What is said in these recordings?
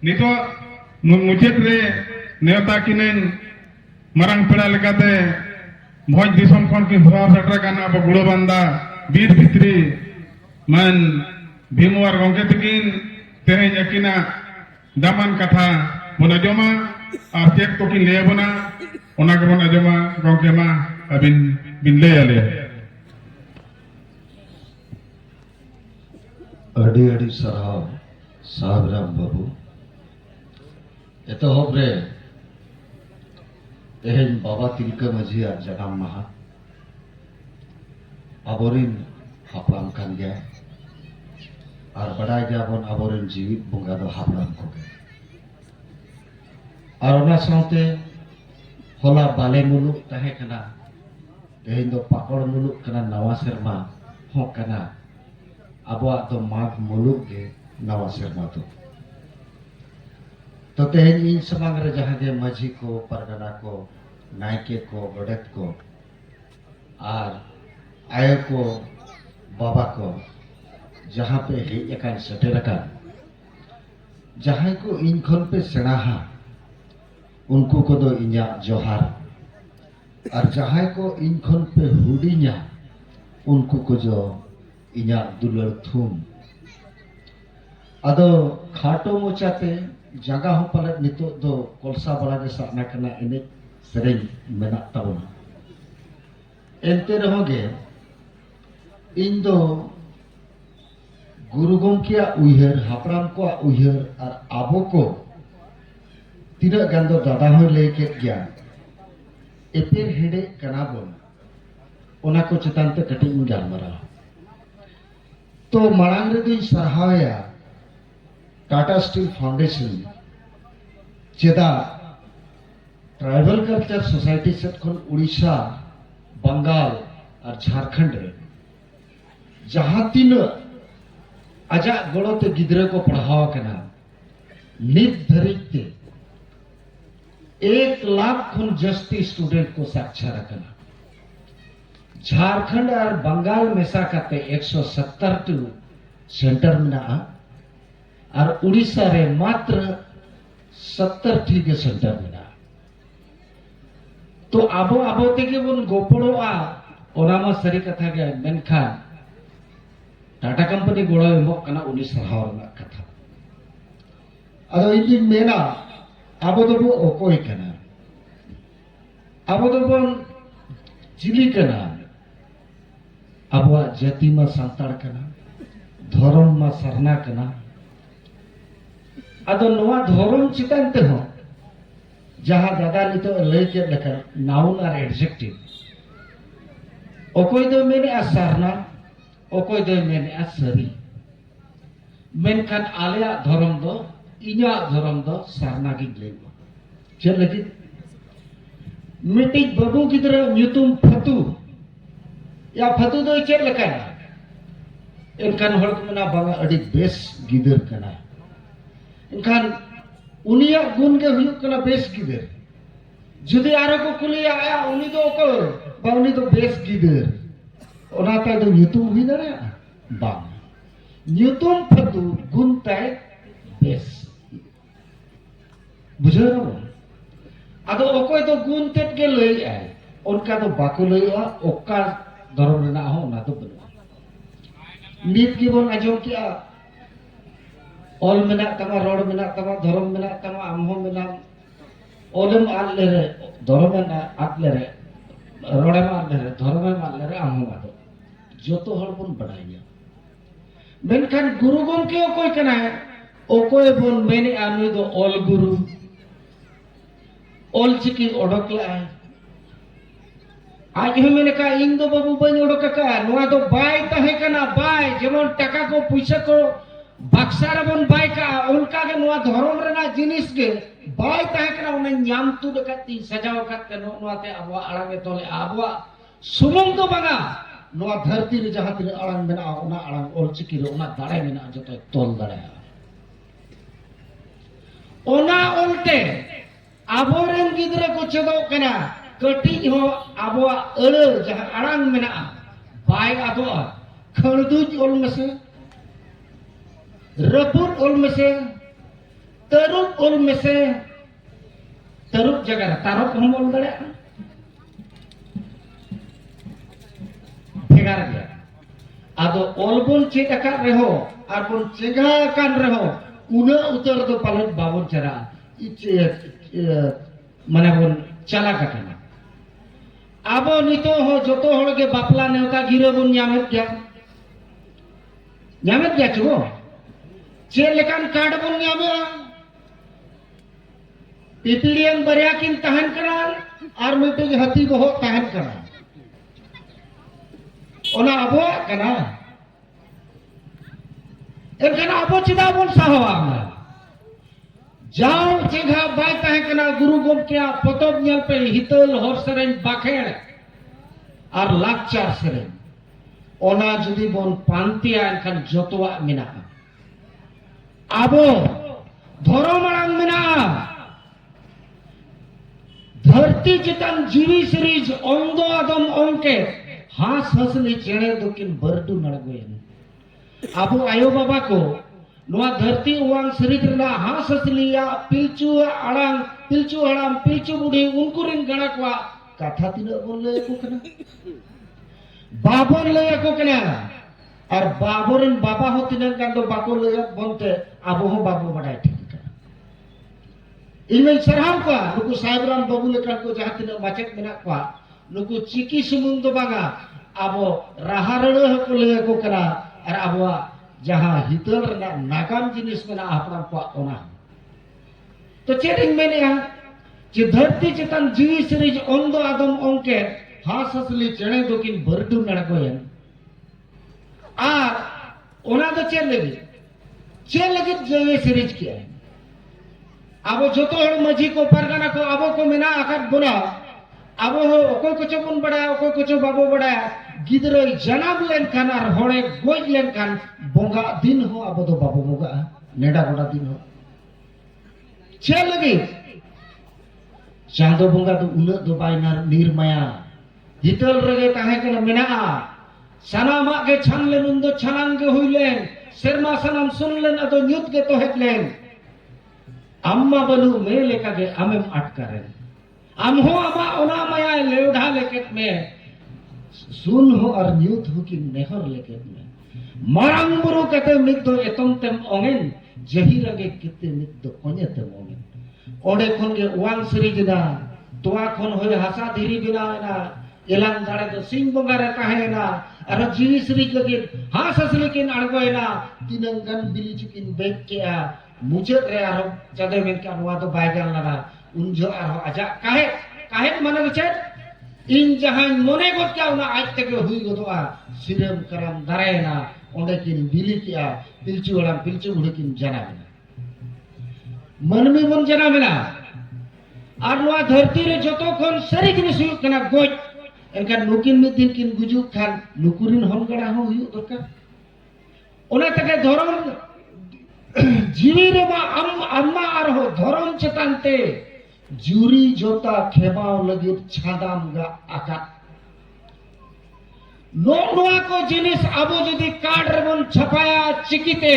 ᱱᱤᱛᱚᱜ ᱢᱩᱪᱟᱹᱫ ᱨᱮ ᱱᱮᱣᱛᱟ ᱠᱤᱱᱟᱹᱧ ᱢᱟᱨᱟᱝ ᱯᱮᱲᱟ ᱞᱮᱠᱟᱛᱮ ᱵᱷᱚᱸᱡᱽ ᱫᱤᱥᱚᱢ ᱠᱷᱚᱱ ᱠᱤᱱ ᱦᱚᱦᱚ ᱥᱮᱴᱮᱨ ᱟᱠᱟᱱᱟ ᱟᱵᱚ ᱜᱩᱲᱟᱹ ᱵᱟᱱᱫᱟ ᱵᱤᱨ ᱵᱷᱤᱛᱨᱤ ᱢᱟᱱ ᱵᱷᱤᱢᱣᱟᱨ ᱜᱚᱢᱠᱮ ᱛᱤᱠᱤᱱ ᱛᱮᱦᱮᱧ ᱟᱹᱠᱤᱱᱟᱜ ᱫᱟᱢᱟᱱ ᱠᱟᱛᱷᱟ ᱵᱚᱱ ᱟᱸᱡᱚᱢᱟ ᱟᱨ ᱪᱮᱫ ᱠᱚᱠᱤᱱ ᱞᱟᱹᱭ ᱟᱵᱚᱱᱟ ᱚᱱᱟ ᱜᱮᱵᱚᱱ ᱟᱸᱡᱚᱢᱟ ᱜᱚᱢᱠᱮ ᱢᱟ ᱟᱹᱵᱤᱱ ᱵᱤᱱ ᱞᱟᱹᱭ ᱟᱞᱮᱭᱟ ᱟᱹᱰᱤ ᱟᱹᱰᱤ ᱥᱟᱨᱦᱟᱣ ᱥᱟᱦᱟᱵᱨᱟᱢ ᱵᱟᱹᱵᱩ ᱮᱛᱚᱦᱚᱵ ᱨᱮ ᱛᱮᱦᱮᱧ ᱵᱟᱵᱟ ᱛᱤᱞᱠᱟᱹ ᱢᱟᱹᱡᱷᱤᱭᱟᱜ ᱡᱟᱱᱟᱢ ᱢᱟᱦᱟ ᱟᱵᱚᱨᱤᱱ ᱦᱟᱯᱲᱟᱢ ᱠᱟᱱ ᱜᱮᱭᱟᱭ ᱟᱨ ᱵᱟᱰᱟᱭ ᱜᱮᱭᱟᱵᱚᱱ ᱟᱵᱚᱨᱤᱱ ᱡᱤᱣᱤᱫ ᱵᱚᱸᱜᱟ ᱫᱚ ᱦᱟᱯᱲᱟᱢ ᱠᱚᱜᱮ ᱟᱨ ᱚᱱᱟ ᱥᱟᱶᱛᱮ ᱦᱚᱞᱟ ᱵᱟᱞᱮ ᱢᱩᱞᱩᱜ ᱛᱟᱦᱮᱸ ᱠᱟᱱᱟ ᱛᱮᱦᱮᱧ ᱫᱚ ᱯᱟᱠᱚᱲ ᱢᱩᱞᱩᱜ ᱠᱟᱱᱟ ᱱᱟᱣᱟ ᱥᱮᱨᱢᱟ ᱦᱚᱸ ᱠᱟᱱᱟ ᱟᱵᱚᱣᱟᱜ ᱫᱚ ᱢᱟᱜᱽ ᱢᱩᱞᱩᱜ ᱜᱮ ᱱᱟᱣᱟ ᱥᱮᱨᱢᱟ ᱫᱚ ᱛᱚ ᱛᱮᱦᱮᱧ ᱤᱧ ᱥᱟᱢᱟᱝ ᱨᱮ ᱡᱟᱦᱟᱸ ᱜᱮ ᱢᱟᱹᱡᱷᱤ ᱠᱚ ᱯᱟᱨᱜᱟᱱᱟ ᱠᱚ ᱱᱟᱭᱠᱮ ᱠᱚ ᱜᱚᱰᱮᱛ ᱠᱚ ᱟᱨ ᱟᱭᱳ ᱠᱚ ᱵᱟᱵᱟ ᱠᱚ ᱡᱟᱦᱟᱸ ᱯᱮ ᱦᱮᱡ ᱟᱠᱟᱱ ᱥᱮᱴᱮᱨ ᱟᱠᱟᱱ ᱡᱟᱦᱟᱸᱭ ᱠᱚ ᱤᱧ ᱠᱷᱚᱱ ᱯᱮ ᱥᱮᱬᱟᱦᱟ ᱩᱱᱠᱩ ᱠᱚᱫᱚ ᱤᱧᱟᱹᱜ ᱡᱚᱦᱟᱨ ᱟᱨ ᱡᱟᱦᱟᱸᱭ ᱠᱚ ᱤᱧ ᱠᱷᱚᱱ ᱯᱮ ᱦᱩᱰᱤᱧᱟ ᱩᱱᱠᱩ ᱠᱚ ᱡᱚ ᱤᱧᱟᱹᱜ ᱫᱩᱞᱟᱹᱲ ᱛᱷᱩᱢ ᱟᱫᱚ ᱠᱷᱟᱴᱚ ᱢᱚᱪᱟᱛᱮ ᱡᱟᱸᱜᱟ ᱦᱚᱸ ᱯᱟᱞᱮᱫ ᱱᱤᱛᱚᱜ ᱫᱚ ᱠᱚᱞᱥᱟ ᱵᱟᱲᱟ ᱜᱮ ᱥᱟᱜ ᱱᱟᱠᱟᱱᱟ ᱮᱱᱮᱡ ᱥᱮᱨᱮᱧ ᱢᱮᱱᱟᱜ ᱛᱟᱵᱚᱱᱟ ᱮᱱᱛᱮ ᱨᱮᱦᱚᱸ ᱜᱮ ᱤᱧ ᱫᱚ ᱜᱩᱨᱩ ᱜᱚᱢᱠᱮᱭᱟᱜ ᱩᱭᱦᱟᱹᱨ ᱦᱟᱯᱲᱟᱢ ᱠᱚᱣᱟᱜ ᱩᱭᱦᱟᱹᱨ ᱟᱨ ᱟᱵᱚ ᱠᱚ ᱛᱤᱱᱟᱹᱜ ᱜᱟᱱ ᱫᱚ ᱫᱟᱫᱟ ᱦᱚᱸᱭ ᱞᱟᱹᱭ ᱠᱮᱫ ᱜᱮᱭᱟ ᱮᱯᱮᱨ ᱦᱮᱰᱮᱡ ᱠᱟᱱᱟ ᱵᱚᱱ ᱚᱱᱟ ᱠᱚ ᱪᱮᱛᱟᱱ ᱛᱮ ᱠᱟᱹᱴᱤᱡ ᱤᱧ ᱜᱟᱞᱢᱟᱨᱟᱣᱟ ᱛᱚ ᱢᱟᱲᱟᱝ ᱨᱮᱫᱚᱧ ᱥᱟᱨᱦᱟᱣᱮᱭᱟ ᱴᱟᱴᱟ ᱥᱴᱤᱞ ᱯᱷᱟᱣᱩᱱᱰᱮᱥᱚᱱ ᱪᱮᱫᱟᱜ ᱴᱨᱟᱭᱵᱟᱞ ᱠᱟᱞᱪᱟᱨ ᱥᱳᱥᱟᱭᱴᱤ ᱥᱮᱫ ᱠᱷᱚᱱ ᱩᱲᱤᱥᱥᱟ ᱵᱟᱝᱜᱟᱞ ᱟᱨ ᱡᱷᱟᱲᱠᱷᱚᱸᱰ ᱨᱮ ᱡᱟᱦᱟᱸ ᱛᱤᱱᱟᱹᱜ ᱟᱡᱟᱜ ᱜᱚᱲᱚ ᱛᱮ ᱜᱤᱫᱽᱨᱟᱹ ᱠᱚ ᱯᱟᱲᱦᱟᱣ ᱟᱠᱟᱱᱟ ᱱᱤᱛ ᱫᱷᱟᱹᱨᱤᱡ ᱛᱮ ᱮᱠ ᱞᱟᱠᱷ ᱠᱷᱚᱱ ᱡᱟᱹᱥᱛᱤ ᱥᱴᱩᱰᱮᱱᱴ ᱠᱚ ᱥᱟᱠᱪᱷᱟᱨ ᱟᱠᱟᱱᱟ ᱡᱷᱟᱲᱠᱷᱚᱸᱰ ᱟᱨ ᱵᱟᱝᱜᱟᱞ ᱢᱮᱥᱟ ᱠᱟᱛᱮ ᱮᱠᱥᱚ ᱥᱚᱛᱛᱚᱨ ᱴᱤ ᱥᱮᱱᱴᱟᱨ ᱢᱮᱱᱟᱜᱼᱟ ᱟᱨ ᱩᱲᱤᱥᱥᱟ ᱨᱮ ᱢᱟᱛᱨᱚ ᱥᱚᱛᱛᱚᱨ ᱴᱤ ᱜᱮ ᱥᱮᱱᱴᱟᱨ ᱢᱮᱱᱟᱜᱼᱟ ᱛᱚ ᱟᱵᱚ ᱟᱵᱚ ᱛᱮᱜᱮ ᱵᱚᱱ ᱜᱚᱯᱚᱲᱚᱜᱼᱟ ᱚᱱᱟ ᱢᱟ ᱥᱟᱹᱨᱤ ᱠᱟᱛᱷᱟ ᱜᱮ ᱢᱮᱱᱠᱷᱟᱱ ᱴᱟᱴᱟ ᱠᱳᱢᱯᱟᱱᱤ ᱜᱚᱲᱚᱭ ᱮᱢᱚᱜ ᱠᱟᱱᱟ ᱩᱱᱤ ᱥᱟᱨᱦᱟᱣ ᱨᱮᱱᱟᱜ ᱠᱟᱛᱷᱟ ᱟᱫᱚ ᱤᱧ ᱫᱩᱧ ᱢᱮᱱᱟ ᱟᱵᱚ ᱫᱚᱵᱚ ᱚᱠᱚᱭ ᱠᱟᱱᱟ ᱟᱵᱚ ᱫᱚᱵᱚᱱ ᱪᱤᱞᱤ ᱠᱟᱱᱟ ᱟᱵᱚᱣᱟᱜ ᱡᱟᱹᱛᱤ ᱢᱟ ᱥᱟᱱᱛᱟᱲ ᱠᱟᱱᱟ ᱫᱷᱚᱨᱚᱢ ᱢᱟ ᱥᱟᱨᱱᱟ ᱠᱟᱱᱟ ᱟᱫᱚ ᱱᱚᱣᱟ ᱫᱷᱚᱨᱚᱢ ᱪᱮᱛᱟᱱ ᱛᱮᱦᱚᱸ ᱡᱟᱦᱟᱸ ᱫᱟᱫᱟ ᱱᱤᱛᱚᱜ ᱞᱟᱹᱭ ᱠᱮᱫ ᱞᱮᱠᱟ ᱱᱟᱣᱩᱱ ᱟᱨ ᱮᱰᱡᱮᱠᱴᱤᱵᱷ ᱚᱠᱚᱭ ᱫᱚᱭ ᱢᱮᱱᱮᱜᱼᱟ ᱥᱟᱨᱱᱟ ᱚᱠᱚᱭ ᱫᱚᱭ ᱢᱮᱱᱮᱜᱼᱟ ᱥᱟᱹᱨᱤ ᱢᱮᱱᱠᱷᱟᱱ ᱟᱞᱮᱭᱟᱜ ᱫᱷᱚᱨᱚᱢ ᱫᱚ ᱤᱧᱟᱹᱜ ᱫᱷᱚᱨᱚᱢ ᱫᱚ ᱥᱟᱨᱱᱟ ᱜᱤᱧ ᱞᱟᱹᱭᱟ ᱪᱮᱫ ᱞᱟᱹᱜᱤᱫ ᱢᱤᱫᱴᱤᱡ ᱵᱟᱹᱵᱩ ᱜᱤᱫᱽᱨᱟᱹ ᱧᱩᱛᱩᱢ ᱯᱷᱟᱹᱛᱩ ᱭᱟ ᱯᱷᱟᱹᱛᱩ ᱫᱚ ᱪᱮᱫ ᱞᱮᱠᱟᱭᱟ ᱮᱱᱠᱷᱟᱱ ᱦᱚᱲ ᱠᱚ ᱢᱮᱱᱟ ᱵᱟᱝᱟ ᱟᱹᱰᱤ ᱵᱮᱥ ᱜᱤᱫᱟᱹᱨ ᱠᱟᱱᱟᱭ ᱮᱱᱠᱷᱟᱱ ᱩᱱᱤᱭᱟᱜ ᱜᱩᱱ ᱜᱮ ᱦᱩᱭᱩᱜ ᱠᱟᱱᱟ ᱵᱮᱥ ᱜᱤᱫᱟᱹᱨ ᱡᱩᱫᱤ ᱟᱨᱚ ᱠᱚ ᱠᱩᱞᱤᱭᱟ ᱟᱭᱟ ᱩᱱᱤ ᱫᱚ ᱚᱠᱚᱭ ᱵᱟ ᱩᱱᱤ ᱫᱚ ᱵᱮᱥ ᱜᱤᱫᱟᱹᱨ ᱚᱱᱟ ᱛᱟᱭ ᱫᱚ ᱧᱩᱛᱩᱢ ᱦᱩᱭ ᱫᱟᱲᱮᱭᱟᱜᱼᱟ ᱵᱟᱝ ᱧᱩᱛᱩᱢ ᱯᱷᱟᱹᱛᱩ ᱜᱩᱱ ᱛᱟᱭ ᱵᱮᱥ ᱵᱩᱡᱷᱟᱹᱣ ᱫᱟᱵᱚᱱ ᱟᱫᱚ ᱚᱠᱚᱭ ᱫᱚ ᱜᱩᱱ ᱛᱮᱫ ᱜᱮ ᱞᱟᱹᱭᱮᱜᱼᱟᱭ ᱚᱱᱠᱟ ᱫᱚ ᱵᱟᱠᱚ ᱞᱟᱹᱭᱚᱜᱼᱟ ᱚᱠᱟ ᱫᱷᱚᱨᱚᱢ ᱨᱮᱱᱟᱜ ᱦᱚᱸ ᱚᱱᱟ ᱫᱚ ᱵᱟᱹᱱᱩᱜᱼᱟ ᱱᱤᱛ ᱜᱮᱵᱚᱱ ᱟᱸᱡᱚᱢ ᱠᱮᱜᱼᱟ ᱚᱞ ᱢᱮᱱᱟᱜ ᱛᱟᱢᱟ ᱨᱚᱲ ᱢᱮᱱᱟᱜ ᱛᱟᱢᱟ ᱫᱷᱚᱨᱚᱢ ᱢᱮᱱᱟᱜ ᱛᱟᱢᱟ ᱟᱢ ᱦᱚᱸ ᱢᱮᱱᱟᱢ ᱚᱞᱮᱢ ᱟᱫ ᱞᱮᱨᱮ ᱫᱷᱚᱨᱚᱢᱮᱢ ᱟᱫ ᱞᱮᱨᱮ ᱨᱚᱲᱮᱢ ᱟᱫ ᱞᱮᱨᱮ ᱫᱷᱚᱨᱚᱢᱮᱢ ᱟᱫ ᱞᱮᱨᱮ ᱟᱢ ᱦᱚᱸ ᱟᱫᱚᱜ ᱡᱚᱛᱚ ᱦᱚᱲ ᱵᱚᱱ ᱵᱟᱰᱟᱭ ᱜᱮᱭᱟ ᱢᱮᱱᱠᱷᱟᱱ ᱜᱩᱨᱩ ᱜᱚᱢᱠᱮ ᱚᱠᱚᱭ ᱠᱟᱱᱟᱭ ᱚᱠᱚᱭ ᱵᱚᱱ ᱢᱮᱱᱮᱜᱼᱟ ᱱᱩᱭ ᱫᱚ ᱚᱞ ᱜᱩᱨᱩ ᱚᱞ ᱪᱤᱠᱤ ᱚᱰᱚᱠ ᱞᱮᱜᱼᱟᱭ ᱟᱡ ᱦᱚᱸ ᱢᱮᱱ ᱠᱟᱜᱼᱟ ᱤᱧ ᱫᱚ ᱵᱟᱹᱵᱩ ᱵᱟᱹᱧ ᱚᱰᱚᱠ ᱟᱠᱟᱜᱼᱟ ᱱᱚᱣᱟ ᱫᱚ ᱵᱟᱭ ᱛᱟᱦᱮᱸ ᱠᱟᱱᱟ ᱵᱟᱭ ᱡᱮᱢᱚᱱ ᱴᱟᱠᱟ ᱠᱚ ᱯᱩᱭᱥᱟᱹ ᱠᱚ ᱵᱟᱠᱥᱟ ᱨᱮᱵᱚᱱ ᱵᱟᱭ ᱠᱟᱜᱼᱟ ᱚᱱᱠᱟ ᱜᱮ ᱱᱚᱣᱟ ᱫᱷᱚᱨᱚᱢ ᱨᱮᱱᱟᱜ ᱡᱤᱱᱤᱥ ᱜᱮ ᱵᱟᱭ ᱛᱟᱦᱮᱸ ᱠᱟᱱᱟ ᱚᱱᱟ ᱧᱟᱢ ᱛᱩᱫ ᱟᱠᱟᱫ ᱛᱤᱧ ᱥᱟᱡᱟᱣ ᱟᱠᱟᱫ ᱛᱮ ᱱᱚᱜᱼᱚ ᱱᱚᱣᱟᱛᱮ ᱟᱵᱚᱣᱟᱜ ᱟᱲᱟᱝ ᱮ ᱛᱚᱞᱮᱜᱼᱟ ᱟᱵᱚᱣᱟᱜ ᱥᱩᱢᱩᱝ ᱫᱚ ᱵᱟᱝᱟ ᱱᱚᱣᱟ ᱫᱷᱟᱹᱨᱛᱤ ᱨᱮ ᱡᱟᱦᱟᱸ ᱛᱤᱱᱟᱹᱜ ᱟᱲᱟᱝ ᱢᱮᱱᱟᱜᱼᱟ ᱚᱱᱟ ᱟᱲᱟᱝ ᱚᱞᱪᱤᱠᱤ ᱨᱮ ᱚᱱᱟ ᱫᱟᱲᱮ ᱢᱮᱱᱟᱜᱼᱟ ᱡᱚᱛᱚᱭ ᱛᱚᱞ ᱫᱟᱲᱮᱭᱟᱜᱼᱟ ᱚᱱᱟ ᱚᱞᱛᱮ ᱟᱵᱚᱨᱮᱱ ᱜᱤᱫᱽᱨᱟᱹ ᱠᱚ ᱪᱮᱫᱚᱜ ᱠᱟᱱᱟ ᱠᱟᱹᱴᱤᱡ ᱦᱚᱸ ᱟᱵᱚᱣᱟᱜ ᱟᱹᱲᱟᱹ ᱡᱟᱦᱟᱸ ᱟᱲᱟᱝ ᱢᱮᱱᱟᱜᱼᱟ ᱵᱟᱭ ᱟᱫᱚᱜᱼᱟ ᱠᱷᱟᱹᱲᱫᱩᱡ ᱚᱞ ᱢᱮᱥᱮ ᱨᱟᱹᱯᱩᱫ ᱚᱞ ᱢᱮᱥᱮ ᱛᱟᱹᱨᱩᱵ ᱚᱞ ᱢᱮᱥᱮ ᱛᱟᱹᱨᱩᱵ ᱡᱟᱭᱜᱟ ᱨᱮ ᱛᱟᱨᱚᱵ ᱦᱚᱸ ᱵᱚᱞ ᱫᱟᱲᱮᱭᱟᱜᱼᱟ ᱵᱷᱮᱜᱟᱨ ᱜᱮᱭᱟ ᱟᱫᱚ ᱚᱞ ᱵᱚᱱ ᱪᱮᱫ ᱟᱠᱟᱫ ᱨᱮᱦᱚᱸ ᱟᱨ ᱵᱚᱱ ᱪᱮᱸᱜᱷᱟ ᱟᱠᱟᱱ ᱨᱮᱦᱚᱸ ᱩᱱᱟᱹᱜ ᱩᱛᱟᱹᱨ ᱫᱚ ᱯᱟᱞᱮᱫ ᱵᱟᱵᱚᱱ ᱪᱟᱞᱟᱜᱼᱟ ᱢᱟᱱᱮ ᱵᱚᱱ ᱪᱟᱞᱟᱠ ᱟᱠᱟᱱᱟ ᱟᱵᱚ ᱱᱤᱛᱚᱜ ᱦᱚᱸ ᱡᱚᱛᱚ ᱦᱚᱲ ᱜᱮ ᱵᱟᱯᱞᱟ ᱱᱮᱣᱛᱟ ᱜᱤᱨᱟᱹ ᱵᱚᱱ ᱧᱟᱢᱮᱫ ᱜᱮᱭᱟ ᱧᱟᱢᱮᱫ ᱜᱮᱭᱟ ᱪᱚ ᱪᱮᱫ ᱞᱮᱠᱟᱱ ᱠᱟᱨᱰ ᱵᱚᱱ ᱧᱟᱢᱮᱫᱼᱟ ᱯᱤᱯᱤᱲᱤᱭᱟᱱ ᱵᱟᱨᱭᱟ ᱠᱤᱱ ᱛᱟᱦᱮᱱ ᱠᱟᱱᱟ ᱟᱨ ᱢᱤᱫᱴᱤᱡ ᱦᱟᱹᱛᱤ ᱵᱚᱦᱚᱜ ᱛᱟᱦᱮᱱ ᱠᱟᱱᱟ ᱚᱱᱟ ᱟᱵᱚᱣᱟᱜ ᱠᱟᱱᱟ ᱮᱱᱠᱷᱟᱱ ᱟᱵᱚ ᱪᱮᱫᱟᱜ ᱵᱚᱱ ᱥᱟᱦᱟᱣᱟ ᱚᱱᱟ ᱡᱟᱣ ᱪᱮᱸᱜᱷᱟ ᱵᱟᱭ ᱛᱟᱦᱮᱸ ᱠᱟᱱᱟ ᱜᱩᱨᱩ ᱜᱚᱢᱠᱮᱭᱟᱜ ᱯᱚᱛᱚᱵ ᱧᱮᱞ ᱯᱮ ᱦᱤᱛᱟᱹᱞ ᱦᱚᱲ ᱥᱮᱨᱮᱧ ᱵᱟᱠᱷᱮᱲ ᱟᱨ ᱞᱟᱠᱪᱟᱨ ᱥᱮᱨᱮᱧ ᱚᱱᱟ ᱡᱩᱫᱤ ᱵᱚᱱ ᱯᱟᱱᱛᱮᱭᱟ ᱮᱱᱠᱷᱟᱱ ᱡᱚᱛᱚᱣᱟᱜ ᱢᱮᱱᱟᱜᱼᱟ ᱟᱵᱚ ᱫᱷᱚᱨᱚᱢ ᱟᱲᱟᱝ ᱢᱮᱱᱟᱜᱼᱟ ᱫᱷᱟᱹᱨᱛᱤ ᱪᱮᱛᱟᱱ ᱡᱤᱣᱤ ᱥᱤᱨᱤᱡᱽ ᱚᱝᱜᱚ ᱟᱫᱚᱢ ᱚᱝᱠᱮ ᱦᱟᱸᱥ ᱦᱟᱹᱥᱞᱤ ᱪᱮᱬᱮ ᱫᱚᱠᱤᱱ ᱵᱟᱹᱨᱰᱩ ᱱᱟᱲᱜᱚᱭᱮᱱ ᱟᱵᱚ ᱟᱭᱳ ᱵᱟᱵᱟ ᱠᱚ ᱱᱚᱣᱟ ᱫᱷᱟᱹᱨᱛᱤ ᱚᱣᱟᱝ ᱥᱤᱨᱤᱡᱽ ᱨᱮᱱᱟᱜ ᱦᱟᱸᱥ ᱦᱟᱹᱥᱞᱤᱭᱟᱜ ᱯᱤᱞᱪᱩ ᱟᱲᱟᱝ ᱯᱤᱞᱪᱩ ᱦᱟᱲᱟᱢ ᱯᱤᱞᱪᱩ ᱵᱩᱰᱷᱤ ᱩᱱᱠᱩ ᱨᱤᱱ ᱜᱟᱬᱟ ᱠᱚᱣᱟᱜ ᱠᱟᱛᱷᱟ ᱛᱤᱱᱟᱹᱜ ᱵᱚᱱ ᱞᱟᱹᱭ ᱟᱠᱚ ᱠᱟᱱᱟ ᱵᱟᱵᱚᱱ ᱞᱟᱹᱭ ᱟᱠᱚ ᱠᱟᱱᱟ ᱟᱨ ᱵᱟᱵᱚ ᱨᱮᱱ ᱵᱟᱵᱟ ᱦᱚᱸ ᱛᱤᱱᱟᱹᱜ ᱜᱟᱱ ᱫᱚ ᱵᱟᱠᱚ ᱞᱟᱹᱭᱟ ᱵᱚᱱᱛᱮ ᱟᱵᱚ ᱦᱚᱸ ᱵᱟᱵᱚ ᱵᱟᱰᱟᱭ ᱴᱷᱤᱠ ᱠᱟᱱᱟ ᱤᱧ ᱢᱟᱹᱧ ᱥᱟᱨᱦᱟᱣ ᱠᱚᱣᱟ ᱱᱩᱠᱩ ᱥᱟᱭᱵᱨᱟᱢ ᱵᱟᱹᱵᱩ ᱞᱮᱠᱟᱱ ᱠᱚ ᱡᱟᱦᱟᱸ ᱛᱤᱱᱟᱹᱜ ᱢᱟᱪᱮᱫ ᱢᱮᱱᱟᱜ ᱠᱚᱣᱟ ᱱᱩᱠᱩ ᱪᱤᱠᱤ ᱥᱩᱢᱩᱝ ᱫᱚ ᱵᱟᱝᱟ ᱟᱵᱚ ᱨᱟᱦᱟ ᱨᱟᱹᱲᱟᱹ ᱦᱚᱸᱠᱚ ᱞᱟᱹᱭ ᱟᱠᱚ ᱠᱟᱱᱟ ᱟᱨ ᱟᱵᱚᱣᱟᱜ ᱡᱟᱦᱟᱸ ᱦᱤᱛᱟᱹᱞ ᱨᱮᱱᱟᱜ ᱱᱟᱜᱟᱢ ᱡᱤᱱᱤᱥ ᱢᱮᱱᱟᱜᱼᱟ ᱦᱟᱯᱲᱟᱢ ᱠᱚᱣᱟᱜ ᱚᱱᱟ ᱦᱚᱸ ᱛᱚ ᱪᱮᱫ ᱤᱧ ᱢᱮᱱᱮᱜᱼᱟ ᱡᱮ ᱫᱷᱟᱹᱨᱛᱤ ᱪᱮᱛᱟᱱ ᱡᱤᱣᱤ ᱥᱤᱨᱤᱡ ᱚᱱᱫᱚ ᱟᱫᱚᱢ ᱚᱝᱠᱮ ᱦᱟᱸᱥ ᱦᱟᱹᱥᱞᱤ ᱪᱮᱬᱮ ᱫᱚᱠᱤᱱ ᱵᱟᱹᱨᱰᱩ ᱱᱟᱲᱜᱚᱭᱮᱱ ᱟᱨ ᱚᱱᱟ ᱫᱚ ᱪᱮᱫ ᱞᱟᱹᱜᱤᱫ ᱪᱮᱫ ᱞᱟᱹᱜᱤᱫ ᱡᱟᱹᱣᱮ ᱥᱮᱨᱮᱧ ᱠᱮᱜᱼᱟ ᱟᱵᱚ ᱡᱚᱛᱚ ᱦᱚᱲ ᱢᱟᱹᱡᱷᱤ ᱠᱚ ᱯᱟᱨᱜᱟᱱᱟ ᱠᱚ ᱟᱵᱚ ᱠᱚ ᱢᱮᱱᱟᱜ ᱟᱠᱟᱫ ᱵᱚᱱᱟ ᱟᱵᱚ ᱦᱚᱸ ᱚᱠᱚᱭ ᱠᱚᱪᱚ ᱵᱚᱱ ᱵᱟᱲᱟᱭᱟ ᱚᱠᱚᱭ ᱠᱚᱪᱚ ᱵᱟᱵᱚ ᱵᱟᱲᱟᱭᱟ ᱜᱤᱫᱽᱨᱟᱹᱭ ᱡᱟᱱᱟᱢ ᱞᱮᱱᱠᱷᱟᱱ ᱟᱨ ᱦᱚᱲᱮ ᱜᱚᱡ ᱞᱮᱱᱠᱷᱟᱱ ᱵᱚᱸᱜᱟ ᱫᱤᱱ ᱦᱚᱸ ᱟᱵᱚ ᱫᱚ ᱵᱟᱵᱚ ᱵᱚᱸᱜᱟᱜᱼᱟ ᱱᱮᱰᱟ ᱜᱚᱰᱟ ᱫᱤᱱ ᱦᱚᱸ ᱪᱮᱫ ᱞᱟᱹᱜᱤᱫ ᱪᱟᱸᱫᱚ ᱵᱚᱸᱜᱟ ᱫᱚ ᱩᱱᱟᱹᱜ ᱫᱚ ᱵᱟᱭ ᱱᱤᱨᱢᱟᱭᱟ ᱦᱤᱛᱟᱹᱞ ᱨᱮᱜᱮ ᱛᱟᱦᱮᱸ ᱠᱟᱱᱟ ᱢᱮᱱᱟᱜᱼᱟ ᱥᱟᱱᱟᱢᱟᱜ ᱜᱮ ᱪᱷᱟᱱ ᱞᱮᱱ ᱩᱱ ᱫᱚ ᱪᱷᱟᱱᱟᱝ ᱜᱮ ᱦᱩᱭ ᱞᱮᱱ ᱥᱮᱨᱢᱟ ᱥᱟᱱᱟᱢ ᱥᱩᱱ ᱞᱮᱱ ᱟᱫᱚ ᱧᱩᱛ ᱜᱮ ᱛᱚᱦᱮᱫ ᱞᱮᱱ ᱟᱢ ᱢᱟ ᱵᱟᱹᱱᱩᱜ ᱢᱮ ᱞᱮᱠᱟ ᱜᱮ ᱟᱢᱮᱢ ᱟᱴᱠᱟᱨᱮᱱ ᱟᱢ ᱦᱚᱸ ᱟᱢᱟᱜ ᱚᱱᱟ ᱢᱟᱭᱟᱭ ᱞᱮᱣᱰᱷᱟ ᱞᱮᱠᱮᱫ ᱢᱮ ᱥᱩᱱ ᱦᱚᱸ ᱟᱨ ᱧᱩᱛ ᱦᱚᱸᱠᱤᱱ ᱱᱮᱦᱚᱨ ᱞᱮᱠᱮᱫ ᱢᱮ ᱢᱟᱨᱟᱝ ᱵᱩᱨᱩ ᱠᱟᱛᱮ ᱢᱤᱫ ᱫᱚ ᱮᱛᱚᱢ ᱛᱮᱢ ᱚᱝᱮᱱ ᱡᱟᱹᱦᱤ ᱨᱟᱜᱮ ᱠᱤᱛᱮ ᱢᱤᱫ ᱫᱚ ᱚᱧᱮ ᱛᱮᱢ ᱚᱝᱮᱱ ᱚᱸᱰᱮ ᱠᱷᱚᱱ ᱜᱮ ᱚᱣᱟᱝ ᱥᱤᱨᱤᱡ ᱮᱱᱟ ᱛᱚᱣᱟ ᱠᱷᱚᱱ ᱦᱚᱭ ᱦᱟᱥᱟ ᱫᱷᱤᱨᱤ ᱵᱮᱱᱟᱣ ᱮᱱᱟ ᱮᱞᱟᱝ ᱫᱟᱲᱮ ᱫᱚ ᱥᱤᱧ ᱵᱚᱸᱜᱟ ᱨᱮ ᱛᱟᱦᱮᱸᱭᱮᱱᱟ ᱟᱨ ᱡᱤᱣᱤ ᱥᱤᱨᱤᱡ ᱞᱟᱹᱜᱤᱫ ᱦᱟᱸᱥ ᱦᱟᱹᱥᱞᱤ ᱠᱤᱱ ᱟᱬᱜᱚᱭᱮᱱᱟ ᱛᱤᱱᱟᱹᱝ ᱜᱟᱱ ᱵᱤᱞᱤ ᱪᱩᱠᱤᱱ ᱵᱮᱡ ᱠᱮᱜᱼᱟ ᱢᱩᱪᱟᱹᱫ ᱨᱮ ᱟᱨᱦᱚᱸ ᱪᱟᱸᱫᱚᱭ ᱢᱮᱱ ᱠᱮᱫᱟ ᱱᱚᱣᱟ ᱫᱚ ᱵᱟᱭ ᱜᱟᱱ ᱞᱮᱱᱟ ᱩᱱ ᱡᱚᱦᱚᱜ ᱟᱨᱦᱚᱸ ᱟᱡᱟᱜ ᱠᱟᱦᱮᱫ ᱠᱟᱦᱮᱫ ᱢᱟᱱᱮ ᱫᱚ ᱪᱮᱫ ᱤᱧ ᱡᱟᱦᱟᱸᱧ ᱢᱚᱱᱮ ᱜᱚᱫ ᱠᱮᱫᱟ ᱚᱱᱟ ᱟᱡ ᱛᱮᱜᱮ ᱦᱩᱭ ᱜᱚᱫᱚᱜᱼᱟ ᱥᱤᱨᱟᱹᱢ ᱠᱟᱨᱟᱢ ᱫᱟᱨᱮᱭᱮᱱᱟ ᱚᱸᱰᱮ ᱠᱤᱱ ᱵᱤᱞᱤ ᱠᱮᱫᱼᱟ ᱯᱤᱞᱪᱩ ᱦᱟᱲᱟᱢ ᱯᱤᱞᱪᱩ ᱵᱩᱲᱦᱤ ᱠᱤᱱ ᱡᱟᱱᱟᱢᱮᱱᱟ ᱢᱟᱹᱱᱢᱤ ᱵᱚᱱ ᱡᱟᱱᱟᱢᱮᱱᱟ ᱟᱨ ᱱᱚᱣᱟ ᱫᱷᱟᱹᱨᱛᱤ ᱨᱮ ᱡᱚᱛᱚ ᱠᱷᱚᱱ ᱥᱟᱹᱨᱤ ᱡᱤᱱᱤᱥ ᱦᱩᱭᱩᱜ ᱠᱟᱱᱟ ᱜᱚᱡ ᱮᱱᱠᱷᱟᱱ ᱱᱩᱠᱤᱱ ᱢᱤᱫ ᱫᱤᱱ ᱠᱤᱱ ᱜᱩᱡᱩᱜ ᱠᱷᱟᱱ ᱱᱩᱠᱩ ᱨᱤᱱ ᱦᱚᱱ ᱜᱟᱰᱟ ᱦᱚᱸ ᱦᱩᱭᱩᱜ ᱫᱚᱨᱠᱟᱨ ᱚᱱᱟ ᱛᱮᱜᱮ ᱫᱷᱚᱨᱚᱢ ᱡᱤᱣᱤ ᱨᱮᱢᱟ ᱟᱢ ᱟᱢᱢᱟ ᱟᱨᱦᱚᱸ ᱫᱷᱚᱨᱚᱢ ᱪᱮᱛᱟᱱ ᱛᱮ ᱡᱩᱨᱤ ᱡᱚᱛᱟ ᱠᱷᱮᱢᱟᱣ ᱞᱟᱹᱜᱤᱫ ᱪᱷᱟᱫᱟᱢ ᱜᱟᱜ ᱟᱠᱟᱫ ᱱᱚᱜ ᱱᱚᱣᱟ ᱠᱚ ᱡᱤᱱᱤᱥ ᱟᱵᱚ ᱡᱩᱫᱤ ᱠᱟᱨᱰ ᱨᱮᱵᱚᱱ ᱪᱷᱟᱯᱟᱭᱟ ᱪᱤᱠᱤᱛᱮ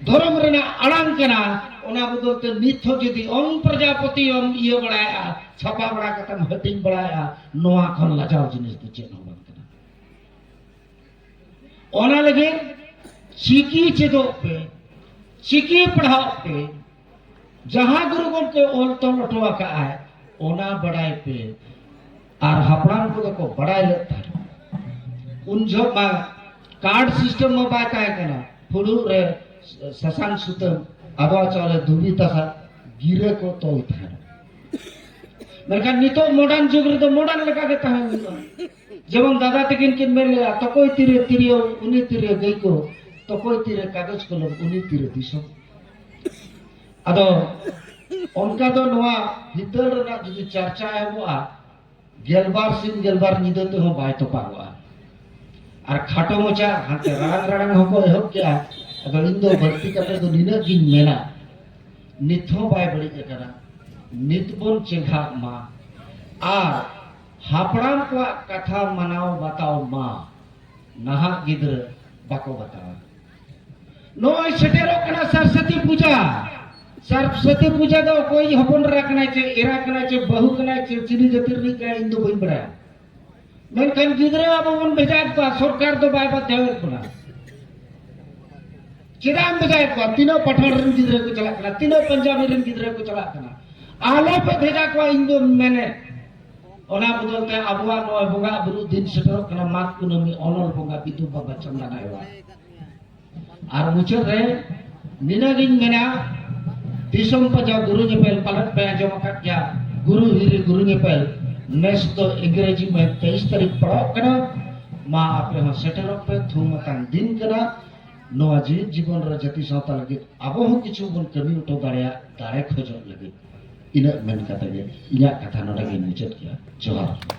ᱫᱷᱚᱨᱚᱢ ᱨᱮᱱᱟᱜ ᱟᱲᱟᱝ ᱠᱟᱱᱟ ᱚᱱᱟ ᱵᱚᱫᱚᱞ ᱛᱮ ᱱᱤᱛ ᱦᱚᱸ ᱡᱩᱫᱤ ᱚᱝ ᱯᱨᱚᱡᱟᱯᱚᱛᱤ ᱚᱢ ᱤᱭᱟᱹ ᱵᱟᱲᱟᱭᱟ ᱪᱷᱟᱯᱟ ᱵᱟᱲᱟ ᱠᱟᱛᱮᱢ ᱦᱟᱹᱴᱤᱧ ᱵᱟᱲᱟᱭᱟ ᱱᱚᱣᱟ ᱠᱷᱚᱱ ᱞᱟᱡᱟᱣ ᱡᱤᱱᱤᱥ ᱫᱚ ᱪᱮᱫ ᱦᱚᱸ ᱵᱟᱝ ᱚᱱᱟ ᱞᱟᱹᱜᱤᱫ ᱪᱤᱠᱤ ᱪᱮᱫᱚᱜ ᱯᱮ ᱪᱤᱠᱤ ᱯᱟᱲᱦᱟᱣ ᱯᱮ ᱡᱟᱦᱟᱸ ᱜᱩᱨᱩ ᱜᱚᱢᱠᱮ ᱚᱞ ᱛᱚᱞ ᱦᱚᱴᱚ ᱟᱠᱟᱫᱼᱟᱭ ᱚᱱᱟ ᱵᱟᱰᱟᱭ ᱯᱮ ᱟᱨ ᱦᱟᱯᱲᱟᱢ ᱠᱚᱫᱚ ᱠᱚ ᱵᱟᱰᱟᱭ ᱞᱮᱫ ᱛᱟᱦᱮᱸᱫ ᱩᱱ ᱡᱚᱦᱚᱜ ᱢᱟ ᱠᱟᱨᱰ ᱥᱤᱥᱴᱮᱢ ᱢᱟ ᱵᱟᱭ ᱛᱟᱦᱮᱸ ᱠᱟᱱᱟ ᱯᱷᱩᱲᱩᱜ ᱨᱮ ᱥᱟᱥᱟᱝ ᱥᱩᱛᱟᱹᱢ ᱟᱫᱣᱟ ᱪᱟᱣᱞᱮ ᱫᱷᱩᱵᱤ ᱛᱟᱥᱟ ᱜᱤᱨᱟᱹ ᱠᱚ ᱛᱚᱞ ᱛᱟᱦᱮᱸᱱᱟ ᱢᱮᱱᱠᱷᱟᱱ ᱱᱤᱛᱚᱜ ᱢᱚᱰᱟᱨᱱ ᱡᱩᱜᱽ ᱨᱮᱫᱚ ᱢᱚᱰᱟᱨᱱ ᱞᱮᱠᱟ ᱜᱮ ᱛᱟᱦᱮᱸ ᱦᱩᱭᱩᱜᱼᱟ ᱡᱮᱢᱚᱱ ᱫᱟᱫᱟ ᱛᱟᱹᱠᱤᱱ ᱠᱤᱱ ᱢᱮᱱ ᱞᱮᱫᱟ ᱛᱚᱠᱚᱭ ᱛᱤᱨᱮ ᱛᱤᱨᱭᱳ ᱩᱱᱤ ᱛᱤᱨᱮ ᱜᱟᱹᱭ ᱠᱚ ᱛᱚᱠᱚᱭ ᱛᱤᱨᱮ ᱠᱟᱜᱚᱡᱽ ᱠᱚᱞᱚᱢ ᱩᱱᱤ ᱛᱤᱨᱮ ᱫᱤᱥᱚᱢ ᱟᱫᱚ ᱚᱱᱠᱟ ᱫᱚ ᱱᱚᱣᱟ ᱦᱤᱛᱟᱹᱞ ᱨᱮᱱᱟᱜ ᱡᱩᱫᱤ ᱪᱟᱨᱪᱟ ᱮᱦᱚᱵᱚᱜᱼᱟ ᱜᱮᱞᱵᱟᱨ ᱥᱤᱧ ᱜᱮᱞᱵᱟᱨ ᱧᱤᱫᱟᱹ ᱛᱮᱦᱚᱸ ᱵᱟᱭ ᱛᱚᱯᱟᱜᱚᱜᱼᱟ ᱟᱨ ᱠᱷᱟᱴᱚ ᱢᱚᱪᱟ ᱦᱟᱱᱛᱮ ᱨᱟᱲᱟᱝ ᱨᱟᱲᱟᱝ ᱦᱚᱸᱠᱚ ᱮᱦᱚᱵ ᱠᱮᱜᱼᱟ ᱟᱫᱚ ᱤᱧ ᱫᱚ ᱵᱟᱹᱲᱛᱤ ᱠᱟᱛᱮ ᱫᱚ ᱱᱤᱱᱟᱹᱜ ᱜᱤᱧ ᱢᱮᱱᱟ ᱱᱤᱛ ᱦᱚᱸ ᱵᱟᱭ ᱵᱟᱹᱲᱤᱡ ᱟᱠᱟᱱᱟ ᱱᱤᱛ ᱵᱚᱱ ᱪᱮᱸᱜᱷᱟᱜ ᱢᱟ ᱟᱨ ᱦᱟᱯᱲᱟᱢ ᱠᱚᱣᱟᱜ ᱠᱟᱛᱷᱟ ᱢᱟᱱᱟᱣ ᱵᱟᱛᱟᱣ ᱢᱟ ᱱᱟᱦᱟᱜ ᱜᱤᱫᱽᱨᱟᱹ ᱵᱟᱠᱚ ᱵᱟᱛᱟᱣᱟ ᱱᱚᱜᱼᱚᱭ ᱥᱮᱴᱮᱨᱚᱜ ᱠᱟᱱᱟ ᱥᱚᱨᱥᱚᱛᱤ ᱯᱩᱡᱟ ᱥᱚᱨᱥᱚᱛᱤ ᱯᱩᱡᱟ ᱫᱚ ᱚᱠᱚᱭ ᱦᱚᱯᱚᱱ ᱮᱨᱟ ᱠᱟᱱᱟᱭ ᱪᱮ ᱮᱨᱟ ᱠᱟᱱᱟᱭ ᱪᱮ ᱵᱟᱹᱦᱩ ᱠᱟᱱᱟᱭ ᱪᱮ ᱪᱤᱞᱤ ᱡᱟᱹᱛᱤ ᱨᱤᱱᱤᱡ ᱠᱟᱱᱟᱭ ᱤᱧ ᱫᱚ ᱵᱟᱹᱧ ᱵᱟᱲᱟᱭᱟ ᱢᱮᱱᱠᱷᱟᱱ ᱜᱤᱫᱽᱨᱟᱹ ᱟᱵᱚ ᱵᱚᱱ ᱵᱷᱮᱡᱟᱭᱮᱫ ᱠᱚᱣᱟ ᱥᱚᱨᱠᱟᱨ ᱫᱚ ᱵᱟᱭ ᱵᱟᱫᱷᱟᱣᱮᱫ ᱵᱚᱱᱟ ᱪᱮᱫᱟᱜ ᱮᱢ ᱵᱷᱮᱡᱟᱭᱮᱫ ᱠᱚᱣᱟ ᱛᱤᱱᱟᱹᱜ ᱯᱟᱴᱷᱟᱲ ᱨᱮᱱ ᱜᱤᱫᱽᱨᱟᱹ ᱠᱚ ᱪᱟᱞᱟᱜ ᱠᱟᱱᱟ ᱛᱤᱱᱟᱹᱜ ᱯᱟᱧᱡᱟᱵᱤ ᱨᱮᱱ ᱜᱤᱫᱽᱨᱟᱹ ᱠᱚ ᱪᱟᱞᱟᱜ ᱠᱟᱱᱟ ᱟᱞᱚ ᱯᱮ ᱵᱷᱮᱡᱟ ᱠᱚᱣᱟ ᱤᱧ ᱫᱚ ᱢᱮᱱᱮᱫ ᱚᱱᱟ ᱵᱚᱫᱚᱞ ᱛᱮ ᱟᱵᱚᱣᱟᱜ ᱱᱚᱣᱟ ᱵᱚᱸᱜᱟ ᱵᱩᱨᱩ ᱫᱤᱱ ᱥᱮᱴᱮᱨᱚᱜ ᱠᱟᱱᱟ ᱢᱟᱜᱽ ᱠᱩᱱᱟᱹᱢᱤ ᱚᱱᱚᱞ ᱵᱚᱸᱜᱟ ᱵᱤᱫᱩ ᱵᱟᱵᱟ ᱪᱟᱸᱫᱟ ᱱᱟᱭᱣᱟ ᱟᱨ ᱢᱩᱪᱟᱹᱫ ᱨᱮ ᱱᱤᱱᱟᱹᱜᱤᱧ ᱢᱮᱱᱟ ᱫᱤᱥᱚᱢ ᱯᱟᱡᱟ ᱜᱩᱨᱩ ᱧᱮᱯᱮᱞ ᱯᱟᱞᱮᱫ ᱯᱮ ᱟᱸᱡᱚᱢ ᱟᱠᱟᱫ ᱜᱮᱭᱟ ᱜᱩᱨᱩ ᱦᱤᱨᱤ ᱜᱩᱨᱩ ᱧᱮᱯᱮᱞ ᱱᱮᱥ ᱫᱚ ᱤᱝᱨᱮᱡᱤ ᱢᱮ ᱛᱮᱭᱤᱥ ᱛᱟᱹᱨᱤᱠᱷ ᱯᱟᱲᱟᱣᱚᱜ ᱠᱟᱱᱟ ᱢᱟ ᱟᱯᱮ ᱦᱚᱸ ᱥᱮᱴᱮᱨᱚᱜ ᱯᱮ ᱛᱷᱩᱢ ᱟᱠᱟᱱ ᱫᱤᱱ ᱠᱟᱱᱟ ᱱᱚᱣᱟ ᱡᱤᱣᱤᱫ ᱡᱤᱵᱚᱱ ᱨᱮ ᱡᱟᱹᱛᱤ ᱥᱟᱶᱛᱟ ᱞᱟᱹᱜᱤᱫ ᱟᱵᱚ ᱦᱚᱸ ᱠᱤᱪᱷᱩ ᱵᱚᱱ ᱠᱟᱹᱢᱤ ᱦᱚᱴᱚ ᱫᱟᱲᱮᱭᱟᱜ ᱫᱟᱲᱮ ᱠᱷᱚᱡᱚᱜ ᱞᱟᱹᱜᱤᱫ ᱤᱱᱟᱹᱜ ᱢᱮᱱ ᱠᱟᱛᱮ ᱜᱮ ᱤᱧᱟᱹᱜ ᱠᱟᱛᱷᱟ ᱱᱚᱰᱮ ᱜᱮᱧ ᱢᱩᱪᱟᱹᱫ ᱠᱮᱜᱼᱟ ᱡᱚᱦᱟᱨ ᱜᱮ